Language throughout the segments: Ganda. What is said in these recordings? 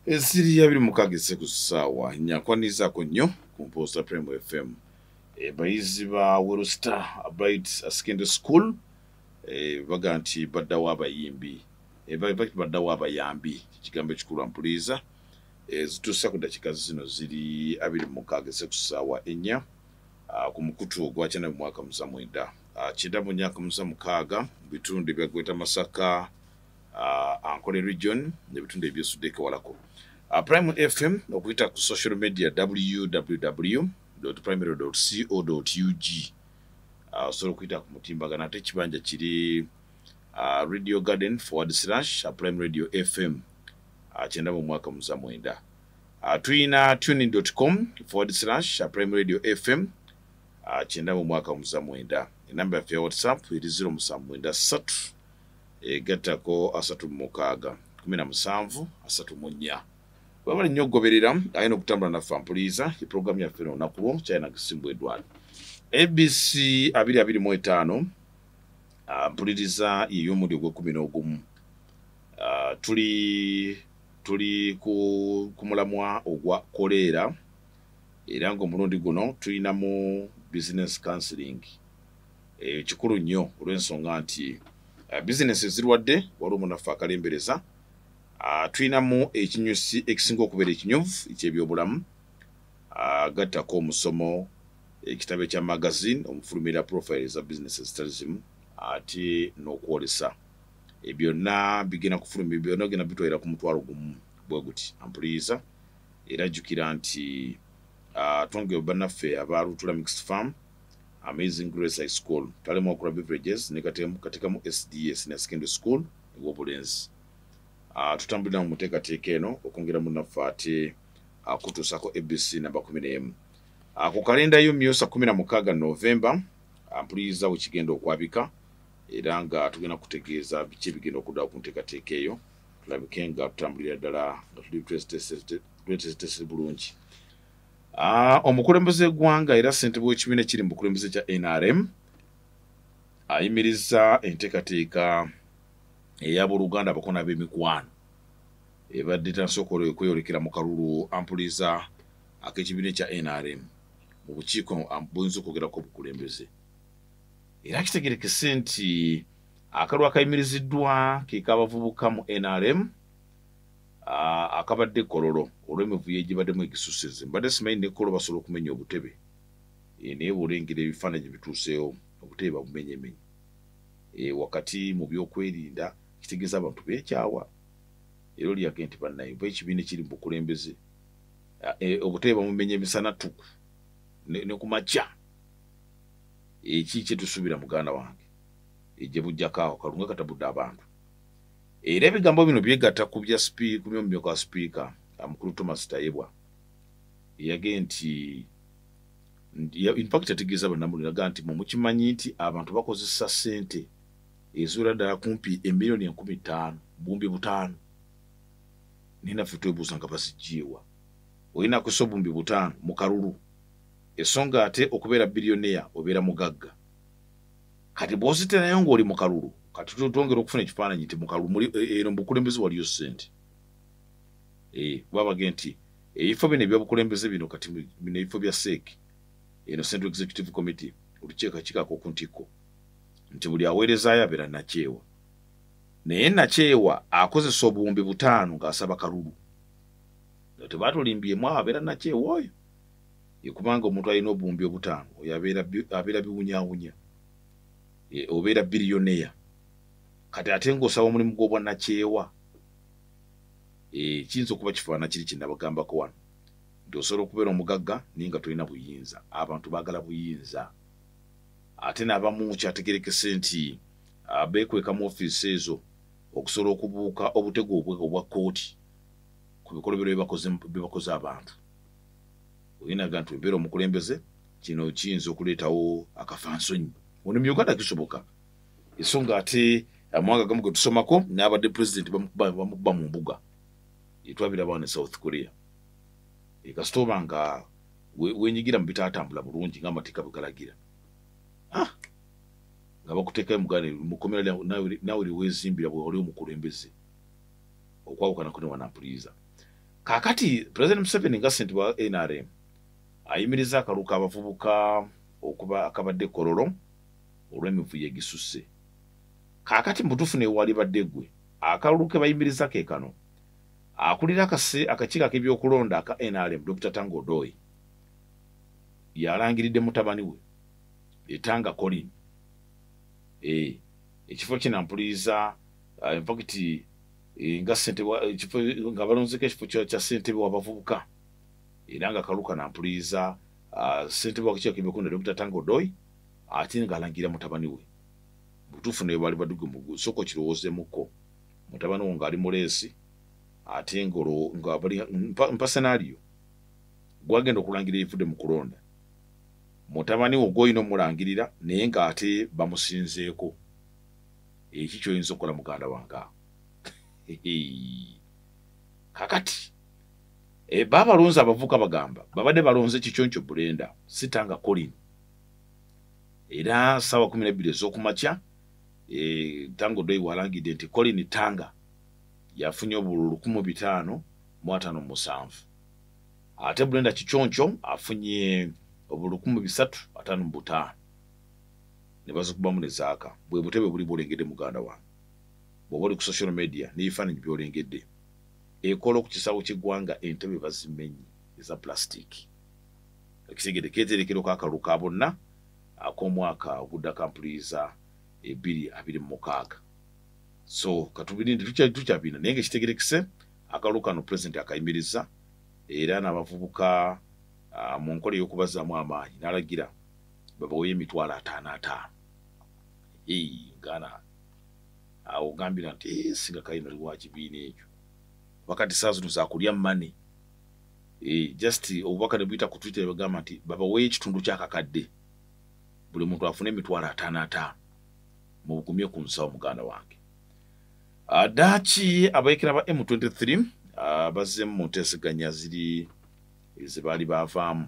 esiri yabiri mukaga eseku saawa nyakwanizaako nnyo ku mpoosa prem fm abayizi ba werusta abit asekende school e, baga nti baddawo abayimbi e, baddawo abayambi kigambo ekikulu ampuliiza e, zituusa ku dakiika zino ziri abiri mukaga eseku saawa ennya ku mukutu ogwakyana mu mwaka musa mwenda kyenda mu nyaka musa mukaaga mu bitundu ebyagweta masaka uh, ankole region nebitundu ebyesudeko walako uh, prime fm okuyita ku social media www primary co ug uh, osobola okuyita ku mutimbagano ate ekibanja kiri uh, radio garden forward slash uh, prime radio fm uh, kyenda mu mwaka muza mwenda uh, tuyina tuning com forward slash uh, prime radio fm uh, kyenda mu mwaka muza mwenda enamba yaffe ya whatsapp eri ziro musanvu mwenda ssatu egattako asatu mu mukaaga kumi na musanvu asatu mu nnya webale nnyo okugoberera ayina okutambula naffe ampuliiza ye pulogulaamu yaffe no olunaku lwo china gisimbwa edwal abc abiri abiri mu etaano ah, mpuliriza yey'omuli ogw'ekumi n'ogumu ah, tuli tuli ku, ku mulamwa ogwa koleera era ng'omulundi guno tulinamu business counseling eyo eh, kikulu nnyo olw'ensonga nti eh, bizinesi ezirwadde waliwo munaffe akalembereza ah, tulinamu ekinyusi ekisinga okubeera ekinyuvu ekyebyobulamu ah, gattako omusomo ekitabo ekya magazine omufulumira profile eza bizinesi ezitali zimu ate n'okwolesa eh, byonna bigenda kufulumira byonna ogenda bitwalira ku mutwalo gumu bwe guti ampuliyiza era jjukira nti ah, twongere bannaffe aba lutula mixed farm Amazing Grace High School, Talemu Akura Beverages ne Katemu Katikamu SDA Senior Secondary School ew'obulenzi. Ah, tutambulira mu muteekateeka eno okwongera munaffe ate akutuusako ABC namba kumi n'emu. Ah, ku kalenda yo myusa kumi na mukaaga Novemba ampuliriza ah, we kigenda okwabika era nga tugenda kutegeeza biki ebigenda okuddawo ku nteekateeka eyo tulabike nga tutambulira ddala nga tuli twesitesebulungi. Ah, omukulembeze w'eggwanga era ssentebe w'ekibiina ekiri mu bukulembeze kya nrm ayimiriza enteekateeka ey'abooluganda abakona b'emikwano ebadde tansokola okweyolekera mu kalulu ampuliza ak'ekibiina ekya nrm mu bukiiko buyinza okwogerako obukulembeze era kitegerekese nti akalulu akayimiriziddwa ke k'abavubuka mu nrm Ah, akabadde kololo olw'emivuyo egibaddemu egisusize mbadde simanyi nekolo basobola okumenya obutebe eh, naye bwolengera ebifaananyi bituuseewo obutebe babumenyemenya eh, wakati mu byokwerinda kitegeeza abantu bekyawa era olyage nti bannaye oba ekibiina ekiri mu bukulembeze ah, eh, obutebe bamumenya emisana tuku ne ku makya eki kyetusuubira muganda wange egye bujjakaawo kalunga katabudde abantu era ebigambo bino byegatta ku bya sipiika mu myomyo kwa sipiika amukulu thomas tayebwa eyage nti infact yategeeza bannamuli naga nti mwe mukimanyi nti abantu bakozesa ssente eziwera ddala kumpi emiliyoni enkumi ttaano buwumbi butaano naye naffe twebuuza nga bazijjeewa olina kusa obuwumbi butaano mu kalulu esonga ate okubeera biliyoneya obeera mugagga kati bwoziterayo ngaoli mukalulu kati twongera okufuna ekifaananyi nti mukalulu muli e, e, eno mubukulembeze waliyo sente eh, kuba bage nti ebifo bino ebyabukulembeze bino kati bino ebifo bya sek eno central executive committee olukiiko kikako ku ntikko nti buli aweerezaayo abeera nakyewa naye nakyewa akozesa obuwumbi butaano ng'asaba kalulu nga tebaatulimbyemu abeera nakyewa oyo kubanga omuntu alina obuwumbi obutaano oyo abeera biwunyawunya e, obeera biriyoneya kati ate ngaosaba omulimu gw'obwanakyewa e, kiyinza okuba kifaana kiri kinabagambako wano nti osobola okubeera omugagga naye nga tolina buyinza abantu baagala buyinza ate n'abamu kyategerekese nti beekweka mu ofiisi ezo okusobola okubuuka obutego obwa kkooti ku bikolobero byebakoze abantu oyinaga nti obeera omukulembeze kino kiyinza okuleetawo akafansonyi ono mu uganda kisoboka esonga ate amawanga gamu ge tusomako n'abadde pulezidenti bamukuba mu mbuga etwabira abaana e south korea ekasita oba nga wenyigira mu bitatambula bulungi nga amateeka bwegalagira ah! nga bakuteekayo muganda mukomera nawe liwezimbira bwewali omukulembeze okwawukana kune wanampuliiza kakati president museveni nga sente wa nrm ayimiriza akalu kabavubuka okuba akabadde kololo olw'emivuyo egisusse kakati mubutuufu newali badde gwe akalulu ke bayimiriza ke kano akulira akase akakiiko ak'ebyokulonda aka nrm dr tangodoyi yalangiridde mutabani we etanga colin e, ekifo kinampuliriza uh, eh, infacti eh, nga ssentebe ekifo nga balonzeko ekifo kya ssentebe wabavubuka era nga kaluka nampuliiza ah, ssentebe wakikyakibekunda dokita tanga odoi ate ngaalangira mutabani we butuufu naye baali baduge mu sooka okirowoozemuko mutabani wo ngaali muleesi ate ngmpa senario gwagenda okulangira ebivude mu kulonda mutabani wo gwoyina omulangirira naye ngaate bamusinzeeko eki eh, kyoyinza okukola muganda wange kakati eh, ba balonzi abavuka bagamba babadde balonze kikyonco bulenda sitanga colin era sawa kumi nebbiri ezokumakya eh, tango doi walangidde nti colin tanga yafunye obulu lukumu bitaano mu atano musanvu ate bulenda kikyonco afunye obulu lukumu bisatu atano mu butaano ne bazikubamu ne zaaka bwe butebe buli bwolengedde muganda wange bw'oba oli ku social media n'ebifaananyi byolengedde ekola ku kisaawe ky'eggwanga entebe bazimenyi eza pulasitiiki ekitegede keeterekero k'akalulu ka bonna ak'omwaka ogudda kampuliiza ebiri abiri mu mukaaga so katubirinde tukyabina naye nga ekitegerekese akalulu kano pulezidenti akayimiriza era n'abavubuka ah, mu nkola ey'okubazaamu amaanyi n'alagira babawoyo emitwalo ataano ataano ngana awo ogambira nti eh, singa kale nali wa kibiina ekyo wakati saa zino zakulya mane eh, just obubaka ne buyita ku twitter bagamba nti babawoyo ekitundu kyakakadde buli muntu afune emitwalo ataano ataano mubugumye ku nsawo muganda wange ah, daki abayekera ba m23 ah, bazzemu mu nteeseganya ziri ezebaali bavaamu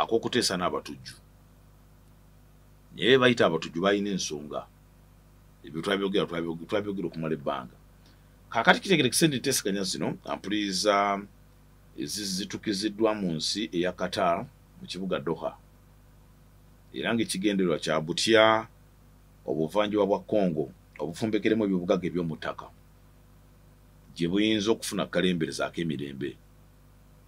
akokuteesa n'abatujju naye bebayita abatujju balina ensonga ebyo twabyogera twabyogera okumala ebbanga kakati kitegere kisente ntesiganya zino ampuliriza ezizitukiziddwa mu nsi eya qatar mu kibuga doha era ngaekigendererwa kya butya obuvanjuba bwa congo obufumbekeremu ebyobugaga ebyomuttaka gye buyinza okufuna kalemberezaako emirembe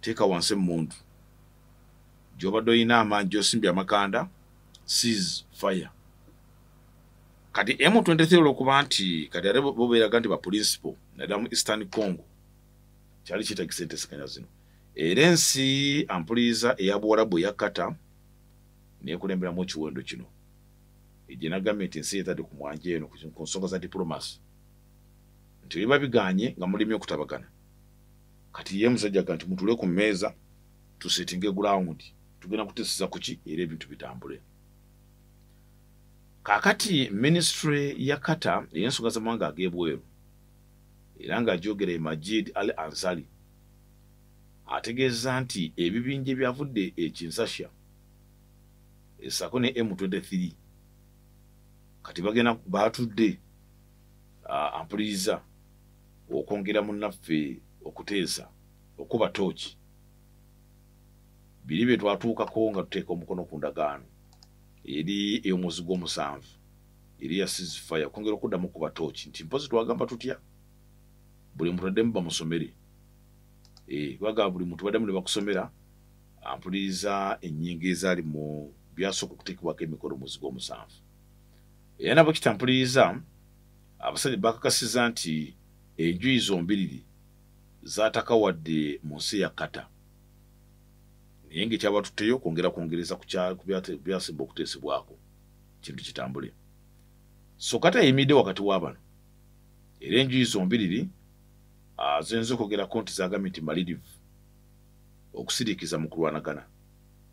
teeka wansi emmundu gyobadde olina amaanyi gyosimbye amakanda seas fire kati m23 olwokuba nti kati ate bobeeraga nti baprinciple naddala mu eastern congo kyali kyetagisa entesekanya zino era ensi ampuliza eya buwalabu eya kata nekulemberamu ekiwendo kino egye nagambye nti ensi yetadde ku mwanja eno ku nsonga za diplomacy nti biba biganye nga mulimu okutabagana kati ye musajja kanti mutule ku meeza tusetinge ground tugenda kuteseza kuki era ebintu bitambule kakati ministry ya kata eyensonga zamawanga agebweru era nga ajogera emajid al ansali ategeeza nti ebibinja ebyavudde ekinsasha esako ne m23 kati bagenda batudde ampuliriza uh, okwongera munnaffe okuteesa okuba tooki biri bye twatuukako nga tuteeka omukono ku ndagaano eri ey'omwezi gw'omusanvu eri ya sizifaya okwongera okuddamu kuba tooki nti mpozi twagamba tutya buli muntu addemu bamusomere eh, baga buli muntu baddemu ne bakusomera ampuliriza ennyingo ezaali mu byasooka okuteekebwako emikono omwezi gw'omusanvu era nabo kitampuliriza Abasajja bakakasiza nti enjuyi zombiriri zaataka wadde mu nsi ya Qatar naye ng'ekyabatutteyo kwongera kwongereza ku byasemba okuteesebwako kintu kitambule so Qatar yeyimiridde wakati wa bano era enjuyi zombiriri ah, ziyinza okwogerako nti zagambye nti malidive okusirikiza mu kulwanagana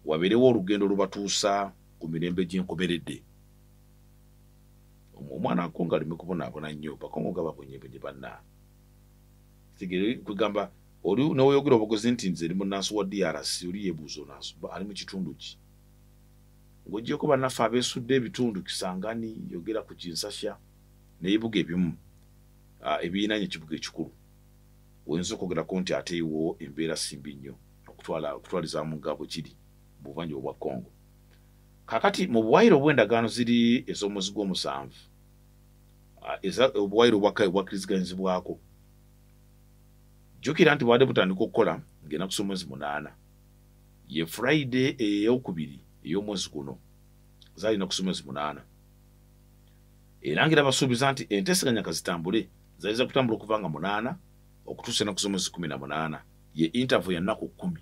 wabeerewo olugendo olubatuusa ku mirembe gy'enkomeredde omwana wako ngalimi kubonaabona nnyo paka omuga babonyebonye banna tegere kwegamba oli neweyogera obugozi nti nze ndi munansi wa drc oli yebuuza onansi ali mu kitundu ki ng'ogyeko bannaffe abeesudde ebitundu kisangani yogera ku kinsasya nebibuga ebimu ah, ebiyinanye ekibuga ekikulu oyinza okwogerako nti ate iwo embeera simbi nnyo okutwala okutwaliza mu nga bwe kiri mu buvanjuba bwa congo Kakati mu buwaayiro obw'endagaano ziri ez'omwezi gw'omusanvu ah, eza obuwaayiro obwakka obwakkiriziganyizibwako jjukira nti bwade butandika okukola ng'enaku z'omwezi munaana ye friday eyokubiri ey'omwezi guno zaali enaku z'omwezi munaana era ng'era basuubiza nti enteeseganya kazitambule zayinza kutambula okuva nga munaana okutuusa enaku z'omwezi kumi na munaana ye interview ya nnaku kkumi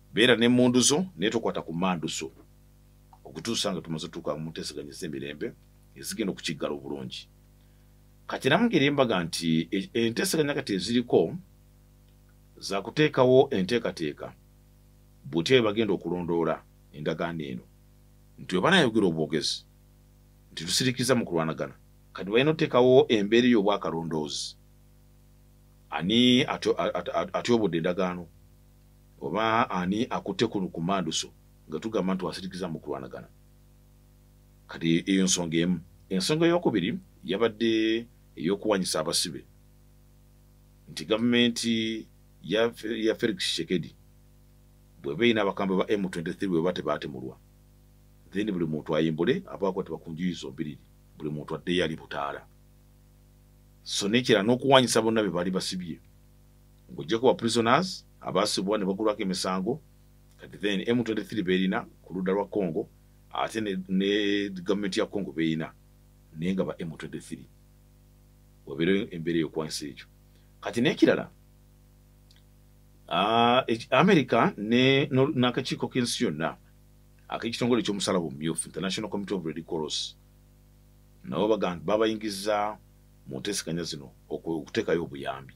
beera n'emmundu zo naye tokwata ku mmandu zo okutuusa nga tumaze otuuka mu nteeseganya ez'emirembe ezigenda okukiggala obulungi kati era mugeri embaga nti e, enteeseganya kati eziriko za kuteekawo enteekateeka butya bwe bagenda okulondoola endagaano eno nti webana ayogera obwogezi nti tusirikiza mu kulwanagana kati balina oteekawo embeera ey'obwakalondoozi ani atyobodde endagaano Oba ani akutte ku lukumanduso nga tugamba nti wasirikiza mu kulwanagana? Kati eyo nsonga emu. Ensonga ey'okubiri yabadde ey'okuwanyisa abasibe nti gavumenti ya Felix Tshisekedi bweba erina abakambwe ba M23 bweba tebaatemulwa then buli muntu ayimbule abaako tebakunjuyi zombiriri buli muntu addeyo ali butaala so nekira n'okuwanyisa bonna be baali basibye ng'ogyeko ba prisoners abaasibwa ne bagulwako emisango kati then m23 beerina ku ludda lwa congo ate ne gavumenti ya congo beerina naye nga ba m23 wabeere embeera eyokwanisa ekyo kati n'ekirala Ah, america n'akakiiko k'ensi yonna ak'ekitongole ekyomusalaba omumyufu international committee of redicross nabo babayingiza mu nteeseganya zino okuteekayo obuyambi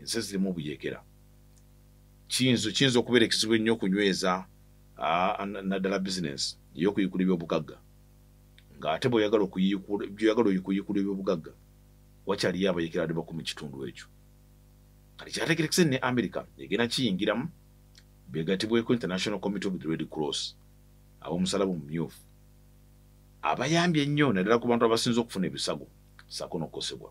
ensi zirimu buyekera kiyinza kiyinza okubeera ekizibu ennyo okunyweza naddala bizinensi ey'okuyiikula ebyobugagga ng'ate bweoyagala byoyagala okuyiikula ebyobugagga wakyaliyo abayekera ali baku mu kitundu ekyo kati kyategerekese ne america egenda kiyingiramu begatibweko international committee of the red cross ab'omusalaba omumyufu abayambye ennyo naddala ku bantu abasinza okufuna ebisago saako n'okukosebwa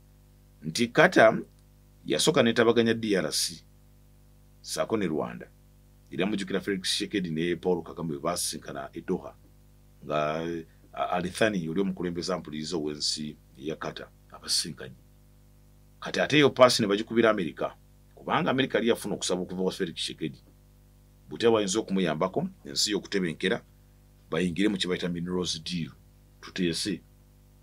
nti Qatar yasooka netabaganya DRC saako ne Rwanda era mujukira Felix Tshisekedi ne Paul Kagame bwe baasisinkana e Doha nga Alithani oli omukulembeze ampuliriza ow'ensi eya Qatar abasisinkanye kati ate eyo paasi ne bagikubira Amerika kubanga Amerika yali yafuna okusaba okuva wa Felix Tshisekedi butya bayinza okumuyambako ensi y'okutebenkera bayingire mu kye bayita minerals deal tuteese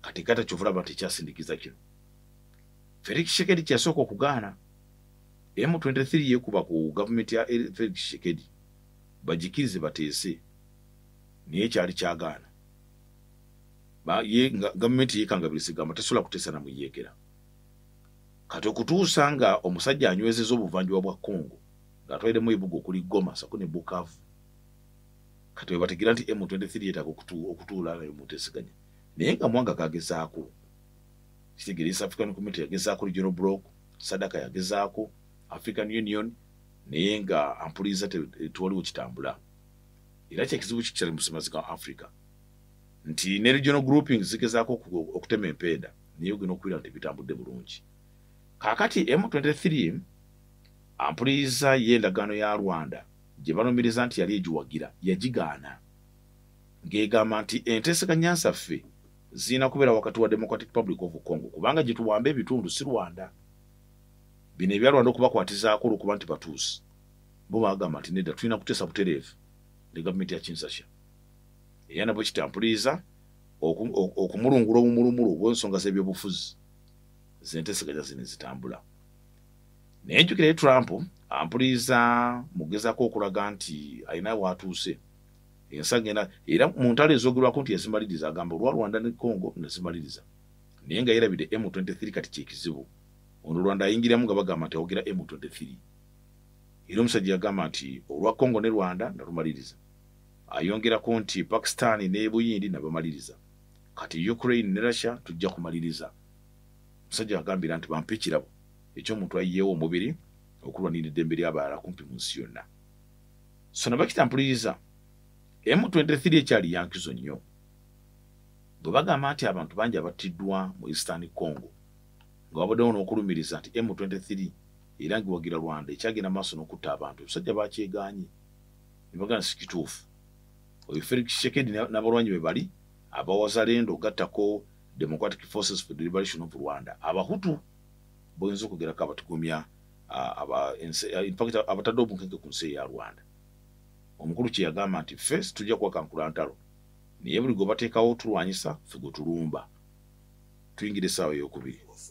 kati gata kyovulaba tekyasindikiza kino felix shekedi kyeyasooka okugaana m23 yekuba ku gavumenti ya felix shekedi bagikirize bateese naye kyali kyagaana gavumenti yekangabirizigamba tesobola kuteesa namuyekera kati okutuusa nga omusajja anywezeza obuvanjuba bwa congo ngaatwaliremu ebuga okuli goma sako ne bukavu kati webategeera nti m23 yetaaga okutuula nayo mutesiganya naye nga mwanga gagezaako kitegere east african community yagezaako regional block sadaka yagezaako african union naye nga ampuliza tewaliwo kitambula era kyekizibu kikyali musemazi ga africa nti ne regional grouping zigezaako okutema empenda naye ogena okuwira nti bitambudde bulungi kakati m23 ampuliza ye endagaano ya rwanda gye balumiriza nti yali egiwagira yagigaana ng'egamba nti enteeseganya nsaffe zirina kubeera wakati wa democratic public of congo kubanga gye tuwamba ebitundu si rwanda bino ebya rwanda okubakwatizaako olwokuba nti batuusi bo bagamba nti nedda tulina kuteesa butereevu ne gavumenti ya kinsasha era nabwe kitampuliriza okumulungula obumulumulu obwensonga z'ebyobufuzi zenteseganya zino ezitambula naye njukira ye trump ampuliriza mugezako okulaga nti alina waatuuse ensaga ena era mu ntalo ezogerwako nti yazimaliriza agamba olwa rwanda ne congo nazimaliriza naye nga yerabidde m23 kati kyekizibu ono rwanda ayingiramu nga bagamba nti awogera m23 era omusajja yagamba nti olwa congo ne rwanda nalumaliriza ayongerako nti pakistan ne buyindi nabamaliriza kati ukraine ne russia tujja kumaliriza omusajja agambira nti bampa ekirabo ekyomuntu ayiyeewo omubiri okulwanira eddembe ly'abalala kumpi mu nsi yonna sona bakita mpuliriza m23 ekyali yankizo nnyo bwe bagamba nti abantu bangi abattiddwa mu eastern congo nga wabaddewo n'okulumiriza nti m23 era ngiwagira rwanda ekyagenda maaso n'okutta abantu ebisajja bakyegaanyi ne bagana si kituufu oyo felix shekedi n'abalwanyi be bali abawazalendo gattako democratic forces for the liberation of rwanda abahutu boyinza okugerako abatugumya infact abatadde obunkeke ku nsi eya rwanda omukulu kyeyagamba nti fe situja kuwakankula ntalo naye buli gwe bateekawo tulwanyisa fe gwe tulumba tuyingira essaawa eyokubiri